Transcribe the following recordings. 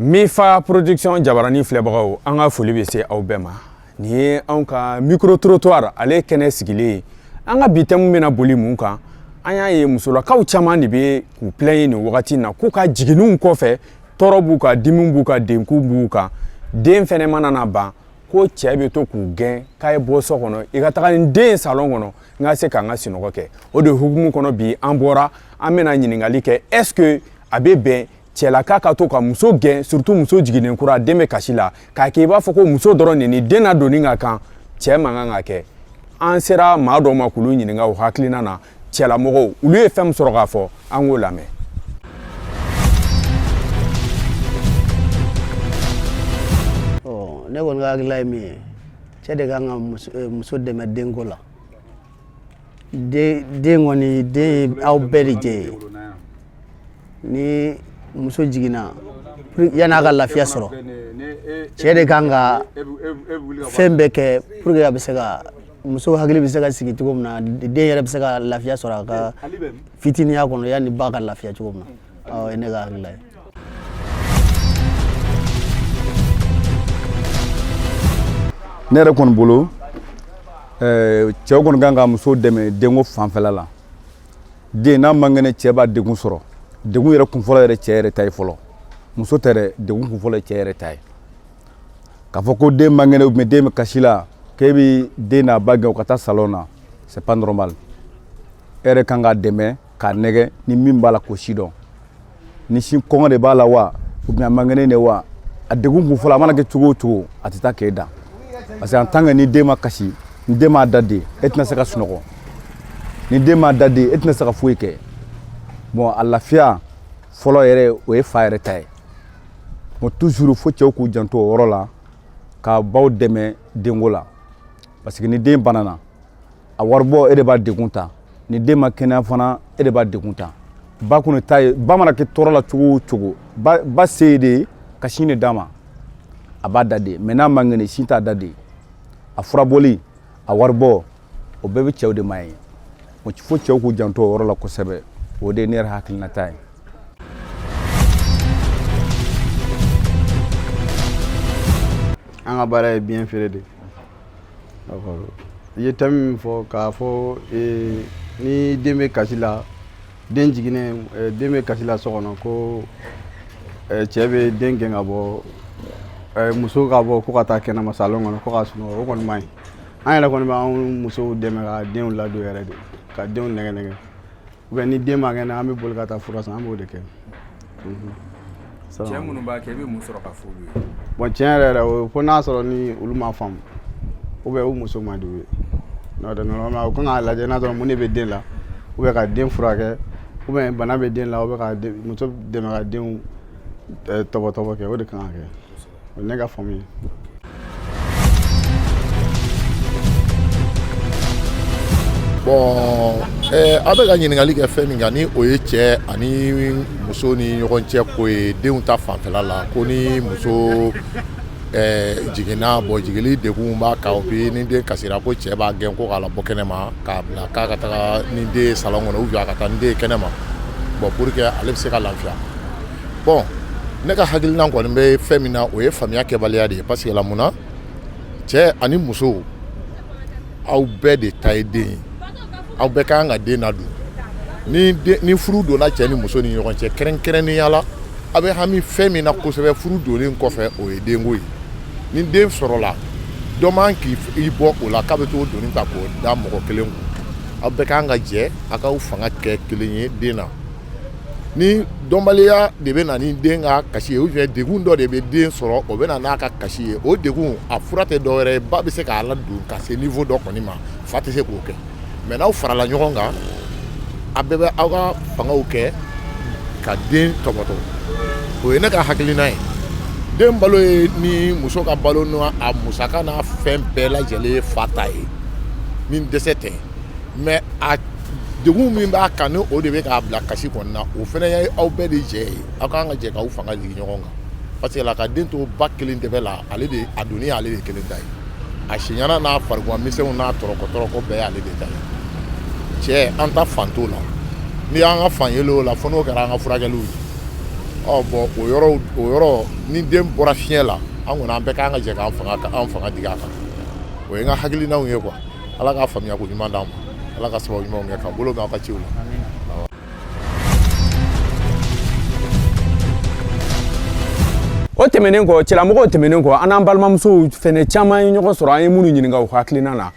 Mifa production jabaranin filɛbagaw an ka foli bɛ se aw bɛɛ ma nin ye anw ka micro trottoir ale kɛnɛ sigilen ye an ka bi thème bɛna boli mun kan an y'a ye musolakaw caman de bɛ k'u plaigner nin wagati na k'u ka jiginiw kɔfɛ tɔɔrɔ b'u kan dimi b'u kan degun b'u kan den fana mana na ban ko cɛ bɛ to k'u gɛn k'a ye bɔ so kɔnɔ i ka taga ni den ye salon kɔnɔ n ka se ka n ka sunɔgɔ kɛ o de hukumu kɔnɔ bi an bɔra an bɛna ɲininkali kɛ est ce que a bɛ bɛn cɛlaka ka to ka muso gɛn surtout muso jiginnen kura den bɛ kasi la k'a kɛ i b'a fɔ ko muso dɔrɔn de ni den ladonni ka kan cɛ man kan k'a kɛ an sera maa dɔw ma k'olu ɲininka o hakilina na cɛlamɔgɔw olu ye fɛn min sɔrɔ k'a fɔ an k'o lamɛn ne kɔni ka hakilila ye min ye cɛ de kan ka muso dɛmɛ denko la den kɔni den ye aw bɛɛ de jɛ ye ni muso jiginna yanni a ka lafiya sɔrɔ cɛ de kan ka fɛn bɛɛ kɛ pour que a bɛ se ka muso hakili bɛ se ka sigi cogo min na den yɛrɛ bɛ se ka lafiya sɔrɔ a ka fitininya kɔnɔ yanni ba ka lafiya cogo min na o ye ne ka hakilila ye ne yɛrɛ kɔni bolo eh, cɛw kɔni kan ka muso dɛmɛ denko fanfɛla la den n'a man kɛnɛ cɛ b'a degun sɔrɔ degun yɛrɛ kunfɔlɔ yɛrɛ cɛ yɛrɛ ta ye fɔlɔ muso tɛ dɛ degun kunfɔlɔ ye cɛ yɛrɛ ta ye k'a fɔ ko den man kɛnɛ ou bien den bɛ kasi la k'e bɛ den n'a ba gɛn u ka taa salon na c'est pas normal e yɛrɛ kan k'a dɛmɛ k'a nɛgɛn ni min b'a la k'o sidɔn ni sin kɔngɔ de b'a la wa ou bien a man kɛnɛ de wa a degun kunfɔlɔ a mana kɛ cogo o cogo a tɛ taa k'e dan parce que en tant que ni den ma kasi ni den m'a da de e tɛna se ka sunɔgɔ ni den m'a da de e tɛna se ka foyi kɛ bon a lafiya fɔlɔ yɛrɛ o ye fa yɛrɛ ta ye bon toujours fo cɛw k'u janto o yɔrɔ la ka baw dɛmɛ denko la parce que ni den banana a waribɔ e de b'a degun ta ni den ma kɛnɛya fana e de b'a degun ta ba kɔni ta ye ba mana kɛ tɔɔrɔ la cogo o cogo ba ba se ye de ye ka sin de d'a ma a b'a da de mais n'a man kɛnɛ sin t'a da de a furabɔli a waribɔ o bɛɛ bɛ cɛw de ma ye fo cɛw k'u janto o yɔrɔ la kosɛbɛ o de ye ne yɛrɛ hakilinata ye an ka baara ye biɲɛ feere de i ye thème min fɔ k'a fɔ ni den bɛ kasi la den jiginnen eh, den bɛ kasi la so kɔnɔ ko eh, cɛ bɛ den gɛn ka bɔ eh, muso ka bɔ ko ka taa kɛnɛma salon kɔnɔ ko ka sunɔgɔ o kɔni man ɲi an yɛrɛ kɔni b'an musow dɛmɛ ka denw ladon yɛrɛ de ka denw nɛgɛ nɛgɛ ou bien ni den man kɛnɛ an bɛ boli ka taa fura san an b'o de kɛ cɛ minnu b'a kɛ i bɛ mun sɔrɔ ka f'olu ye bɔn tiɲɛ yɛrɛ yɛrɛ o fo n'a sɔrɔ ni olu ma faamu ou bien u muso man di u ye n'o tɛ normalement u kan k'a lajɛ n'a sɔrɔ mun de bɛ den la ou bien ka den furakɛ ou bien bana bɛ den la ou bien ka muso dɛmɛ ka denw tɔbɔtɔbɔ kɛ o de kan ka kɛ o ye ne ka faamu ye bɔn eh, a bɛ ka ɲininkali kɛ fɛn min kan ni o ye cɛ ani muso ni ɲɔgɔn cɛ ko ye denw ta fanfɛla la ko ni muso eh, jiginna bɔn jigili degun b'a kan ou bien ni den kasira ko cɛ b'a gɛn ko k'a labɔ kɛnɛma k'a bila k'a ka taga ni den ye salon kɔnɔ ou bien a ka taa ni den ye kɛnɛma bɔn pour que ale bɛ se ka lafiya bɔn ne ka hakilina kɔni bɛ fɛn min na o ye faamuya kɛbaliya de ye parce que la mun na cɛ ani muso aw bɛɛ de ta ye den ye aw bɛɛ ka kan ka den ladon ni ni furu donna cɛ ni muso ni ɲɔgɔn cɛ kɛrɛnkɛrɛnnenya la aw bɛ hami fɛn min na kosɛbɛ furu donlen kɔfɛ o ye denko ye ni den sɔrɔla dɔ man k'i bɔ o la k'a bɛ t'o doni ta k'o da mɔgɔ kelen kun aw bɛɛ ka kan ka jɛ a k'aw fanga kɛ kelen ye den na ni dɔnbaliya de bɛ na ni den ka kasi ye degun dɔ de bɛ den sɔrɔ o bɛ na n'a ka kasi ye o degun a fura tɛ dɔwɛrɛ ye ba bɛ se k'a ladon ka se niveau dɔ kɔni ma fa tɛ se k'o kɛ mais n'aw farala ɲɔgɔn kan a bɛɛ bɛ aw ka fangaw kɛ ka den tɔbɔtɔ o ye ne ka hakilina ye den balo ye ni muso ka balo n'a musaka n'a fɛn bɛɛ lajɛlen ye fa ta ye ni dɛsɛ tɛ mais degun min b'a kan o de bɛ k'a bila kasi kɔnɔna o fana ye aw bɛɛ de jɛ ye aw kan ka jɛ k'aw fanga ɲɔgɔn kan parce que la ka den to ba kelen de bolo ale de a doni y'ale de kelen ta ye a si n'a fari misɛnw n'a tɔɔrɔko bɛɛ y'ale de ta ye cɛ an ta fan t'o la n'i y'an ka fan ye o la fo n'o kɛra an ka furakɛliw ye ɔ bɔn o o yɔrɔ ni den bɔra fiɲɛ la an kɔni an bɛɛ kan ka jɛ an fanga an fanga digi a kan o ye n ka hakilinaw ye quoi ala k'a faamuya ko ɲuman d'an ma ala ka sababu ɲumanw kɛ ka bolo mɛn aw ka ciw la o tɛmɛnen kɔ cɛlamɔgɔw tɛmɛnen kɔ an n'an balimamusow fɛnɛ caman ye ɲɔgɔn sɔrɔ an ye minnu ɲininka u hakilina na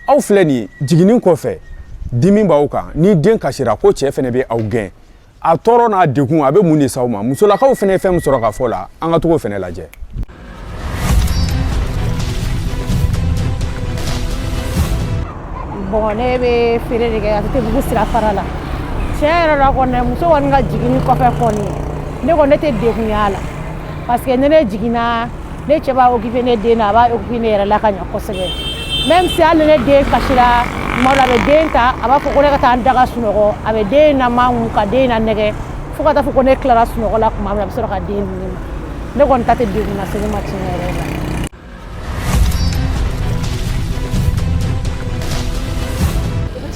aw filɛ nin jiginni kɔfɛ dimi b'aw kan ni den kasira ko cɛ fɛnɛ bɛ aw gɛn a tɔɔrɔ n'a degun a bɛ mun de s'aw ma musolakaw fɛnɛ ye fɛn min sɔrɔ ka fɔ la an ka tag'o fɛnɛ lajɛ bon ne bɛ feere de kɛ atetebugu sira fara la tiɲɛ yɛrɛ la kɔni muso kɔni ka jiginni kɔfɛ kɔni ne kɔni ne tɛ degunya la parce que ne ne jiginna ne cɛ b'a occupé ne den na a b'a occupé ne yɛrɛ la ka ɲɛ kosɛbɛ même si hali ne den kasira tuma dɔ a bɛ den ta a b'a fɔ ko ne ka taa n da ka sunɔgɔ a bɛ den namakun ka den nanɛgɛ fo ka taa fɔ ko ne tilara sunɔgɔ la tuma min na a bɛ sɔrɔ ka den di ne ma ne kɔni ta tɛ degun lase ne ma tiɲɛ yɛrɛ la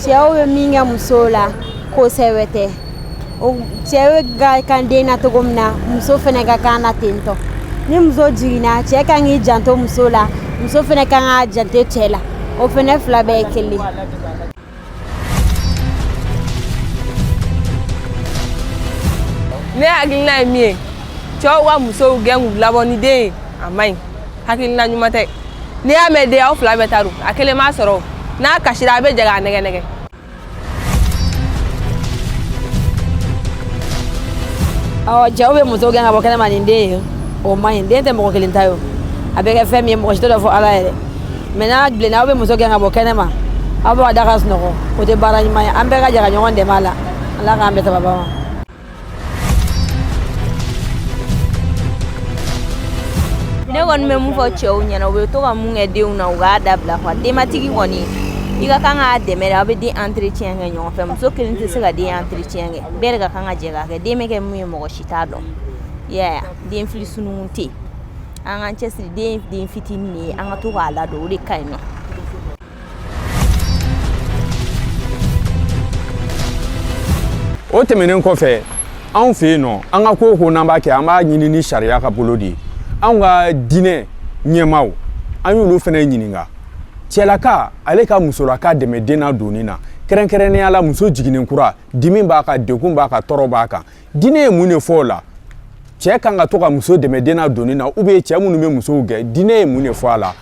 cɛw bɛ min kɛ musow la ko sɛbɛ tɛ o cɛ ka kan den na cogo min na muso fɛnɛ ka kan na ten tɔ ni muso jiginna cɛ ka kan k'i janto muso la muso fɛnɛ ka kan k'a janto cɛ la o fɛnɛ fila bɛɛ ye kelen ne hakilina ye min ye cɛw ka musow gɛn k'u labɔ ni den ye a man ɲi hakilina ɲuman tɛ n'i y'a mɛn den aw fila bɛɛ ta don a kelen m'a sɔrɔ n'a kasira a bɛ jɛ k'a nɛgɛ nɛgɛ ɔ cɛw bɛ muso gɛn ka bɔ kɛnɛma ni den ye o man ɲi den tɛ mɔgɔ kelen ta ye a bɛ kɛ fɛn min ye mɔgɔ si t'o dɔn fo ala yɛrɛ mais n'a bilenna aw bɛ muso gɛn ka bɔ kɛnɛma aw bɛ ka da ka sunɔgɔ o tɛ baara ɲuman ye an bɛɛ ka jɛ ka ɲɔgɔn dɛmɛ a la ala k'an bɛɛ sababa ma ne kɔni bɛ mun fɔ cɛw ɲɛ na u bɛ to ka mun kɛ denw na u k'a dabila quoi denbatigi kɔni i ka kan k'a dɛmɛ de aw bɛ den entretien kɛ ɲɔgɔn fɛ muso kelen tɛ se ka den entretien kɛ bɛɛ de ka kan ka jɛ k'a kɛ den bɛ kɛ mun ye mɔgɔ si t'a dɔn i y'a ye den fili sununkun tɛ yen an k'an cɛsiri den den fitinin de ye an ka to k'a ladon o de ka ɲi nɔ o tɛmɛnen kɔfɛ anw fɛ yen nɔ an ka ko o ko n'an b'a kɛ an b'a ɲini ni sariya ka bolo de ye anw ka diinɛ ɲɛmaaw an y'olu fɛnɛ ɲininka cɛlaka ale ka musolaka dɛmɛ den nadonni na kɛrɛnkɛrɛnnenya la muso jiginnen kura dimi b'a kan degun b'a kan tɔɔrɔ b'a kan diinɛ ye mun de fɔ o la cɛ ka kan ka to ka muso dɛmɛ den nadonni na ou bien cɛ minnu bɛ musow gɛn diinɛ ye mun de fɔ a la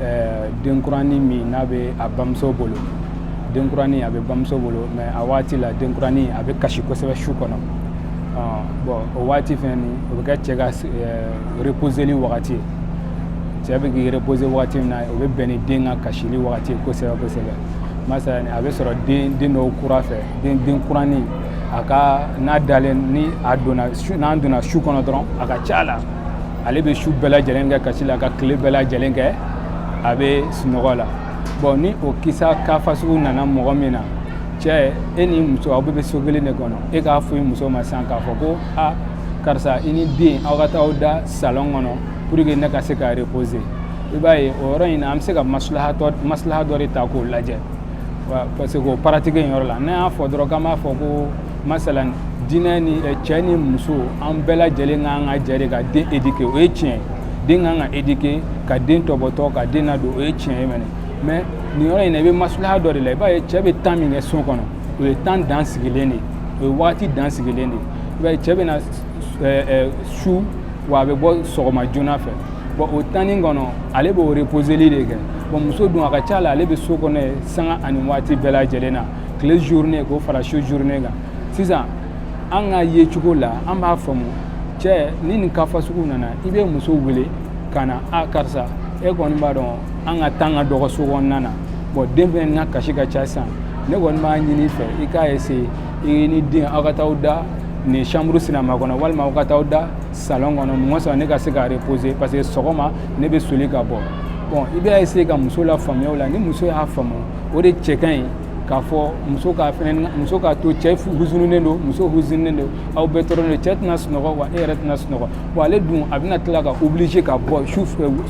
ɛɛ denkurani min n'a bɛ a bamuso bolo denkurani a bɛ bamuso bolo mais a waati la denkurani a bɛ kasi kosɛbɛ su kɔnɔ bon o waati fɛnɛ ni o bɛ kɛ cɛ ka reposeli wagati ye cɛ bɛ k'i reposer wagati min na o bɛ bɛn ni den ka kasili wagati ye kosɛbɛ kosɛbɛ masalan a bɛ sɔrɔ den den dɔw kura fɛ den denkurani a ka n'a dalen ni a donna n'an donna su kɔnɔ dɔrɔn a ka ca la ale bɛ su bɛɛ lajɛlen kɛ kasi la ka tile bɛɛ lajɛlen kɛ a bɛ sunɔgɔ la bon ni o kisa cas fasugu nana mɔgɔ min na cɛ e ni muso aw bɛɛ bɛ so kelen de kɔnɔ e k'a fɔ i muso ma sisan k'a fɔ ko a karisa i ni den aw ka taa aw da salon kɔnɔ pour que ne ka se ka reposer i b'a ye o yɔrɔ in na an bɛ se ka maslaha dɔ de ta k'o lajɛ parce que o pratique in yɔrɔ la n'an y'a fɔ dɔrɔn k'an b'a fɔ ko masalan diinɛ ni eh, cɛ ni muso an bɛɛ lajɛlen ka kan ka jɛ de ka den éduquer o ye tiɲɛ ye den ka kan ka éduquer ka den tɔbɔtɔ ka den ladon o ye tiɲɛ ye mɛnɛ mais nin yɔrɔ in na i bɛ maslaha dɔ de la i b'a ye cɛ bɛ temps min kɛ so kɔnɔ o ye temps dan sigilen de o ye wagati dan sigilen de i b'a ye cɛ bɛ na eh, eh, su wa a bɛ bɔ sɔgɔma joona fɛ bon o temps nin kɔnɔ ale b'o reposeli de kɛ bon muso dun a ka ca la ale bɛ so kɔnɔ yen sanga ani waati bɛɛ lajɛlen na tile journée k'o fara su journée kan sisan an ka ye cogo la an b'a faamu cɛ ni nin cas fasugu nana i bɛ muso wele ka na a karisa e kɔni b'a dɔn an ka temps ka dɔgɔ so kɔnɔna na bon den fɛnɛ ka kasi ka ca sisan ne kɔni b'a ɲini fɛ i k'a essayer i ni den aw ka taa aw da nin chambre sinama kɔnɔ walima aw ka taa aw da salon kɔnɔ mɔgɔ sɔrɔ ne ka se ka reposer parce que sɔgɔma ne bɛ soli ka bɔ bon i bɛ essayer ka muso lafaamuya o la ni muso y'a faamu o de cɛ ka ɲi k'a fɔ muso ka fɛn muso k'a to cɛ huzununen don muso huzununen don aw bɛɛ tɔɔrɔlen don cɛ tɛna sunɔgɔ wa e yɛrɛ tɛna sunɔgɔ wa ale dun a bɛna tila ka obliger ka bɔ su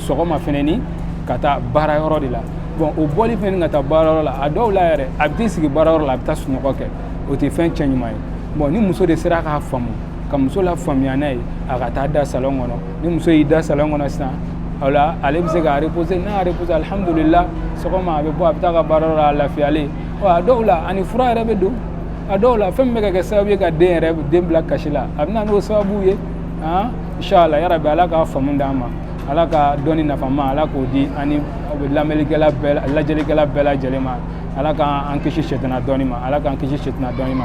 sɔgɔma fɛnɛ ni ka taa baara yɔrɔ de la bon o bɔli fɛnɛ ni ka taa baara yɔrɔ la a dɔw la yɛrɛ a bɛ t'i sigi baara yɔrɔ la a bɛ taa sunɔgɔ kɛ o tɛ fɛn cɛ ɲuman ye bon ni muso de sera k'a faamu ka muso lafaamuya n'a ye a ka taa da salon kɔnɔ ni muso y'i da salon kɔnɔ sisan o la ale bɛ se ka reposer n'a y'a reposer alihamudulila sɔgɔma a bɛ bɔ a bɛ taa ka baara yɔrɔ la a lafiyalen ɔ a dɔw la a ni fura yɛrɛ bɛ don a dɔw la fɛn min bɛ ka kɛ sababu ye ka den yɛrɛ den bila kasi la a bɛ na n'o sababu ye han inshallah yarabi ala ka faamu d'an ma ala ka dɔnni nafama ala k'o di an ni lamɛnlikɛla bɛɛ lajɛlikɛla bɛɛ lajɛlen ma ala k'an kisi sɛtana dɔnni ma ala k'an kisi sɛtana dɔnni ma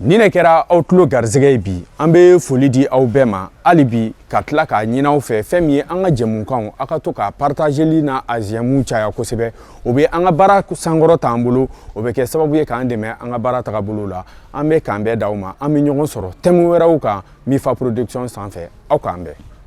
Nin de kɛra aw tulo garisɛgɛ ye bi an bɛ foli di aw bɛɛ ma hali bi ka tila k'a ɲini aw fɛ fɛn min ye an ka jɛmukanw aw ka to k'a partageli n'a j'aime caya kosɛbɛ o bɛ an ka baara sankɔrɔt'an bolo o bɛ kɛ sababu ye k'an dɛmɛ an ka baara tagabolo la an bɛ k'an bɛn d'aw ma an bɛ ɲɔgɔn sɔrɔ thème wɛrɛw kan Minfa Production sanfɛ aw k'an bɛn